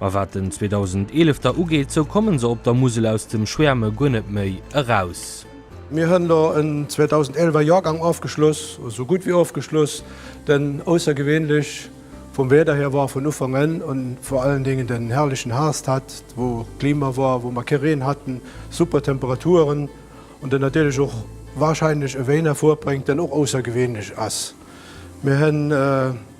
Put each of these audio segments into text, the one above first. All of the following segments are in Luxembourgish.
Ma wat den 2011 da ugeet, esou kommen se op der Musel aus dem Schwäerme guer net méi eraus. Mir hunn do en 2011 er Jorgang ofgeschloss, esou gutt wéi ofgeschloss, den aussergewéinlech vum Wierder hier war vun Ufank un un, vor allen Dingen den herrlichen Herbst hat, wou Klima war, wou mer kee Reen hatten, super Temperaturen und dann natierlech och wahrscheinlech e Wéin hervorbréngt, deen och aussergewéinlech ass. Mir hunn.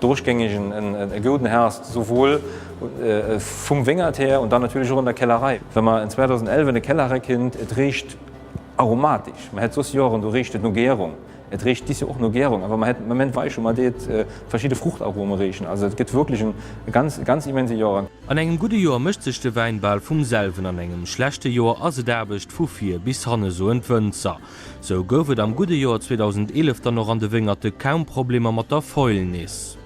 Dodurch géing ech e gouden Harvest esouwuel vum Wéngert hir und dann natierlech och an der Kellerei. Wa mer en 2011 an e Kellerei kinnt, et richt aromatisch. Mer hätt soss Joeren, do richt et no Gärung. Et richt dis Joer och no Gärung, awer mer hätt Moment weiche mer deet verschidde Fruchtarome richen. Also et gëtt wierklech en ganz, ganz immense Joer. An engem gudde Joer mécht sech de Wäin bal vum selwen, an engem schlechte Joer ass et Aarbecht vu vir bis hanne, soen d'Wënzer. Sou gouf et am gudde Joer 2011 dann och an de Wéngerte kaum Problemer mat der Fäulnis.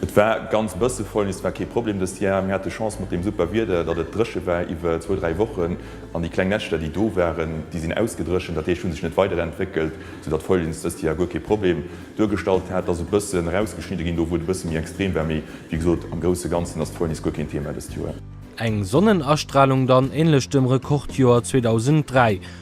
Et war ganz bësse Fäulnis, war kee Problem dëst Jar. Mir hate Chance mat deem super Wieder, datt et dréche war iwwer zwou, dräi Wochen an déi kleng Näschter, déi do waren, déi sinn ausgedréchent. Dat heescht, hu sech net weiderentwéckelt, soudatt d'Fäulnis dëst Joer guer kee Problem duergestallt hat. Et ass e bësse rausgeschnidde ginn, do wou et e bësse méi extrem war, mee wéi gesot, am grousse Ganzen ass d'Fäulnis guer keen Thema dëst Joer. Eng Sonnenastralung dann, änlech dem Rekordjoer 2003.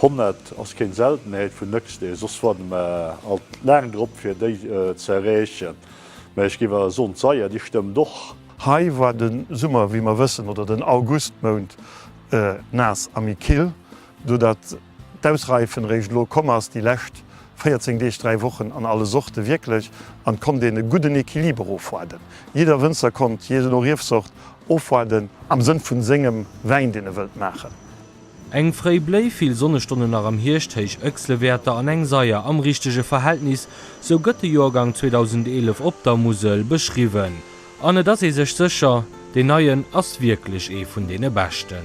100 ass keen Seltenheet vun Nëchstee, soss warden mer alt laang drop fir déi ze erreechen. Mä ech géif awer soen d'Seier déi stëmmt och. Hei war de Summer wéi mer wëssen, oder den Augustmount naass a méi kill, do dat d'Ausreifen eréischt elo komm ass, déi lescht 14 Deeg, 3 Wochen an alle Sorte wierklech, an et konnt een e gudden Equiliber ofwaarden. Jidder Wënzer konnt, jee no Riefsort, ofwaarden am Sënn vun sengem Wäin deen e wëllt maachen. Eng fréi Bléi, vill Sonnestonnen nach am Hierscht, héich Ëchsle-Wäerter an eng Saier am richtege Verhältnis, sou gëtt de Joergang 2011 op der Musel beschriwwen. An et ass ee sech sécher, deen neien ass wierklech ee vun deene beschten.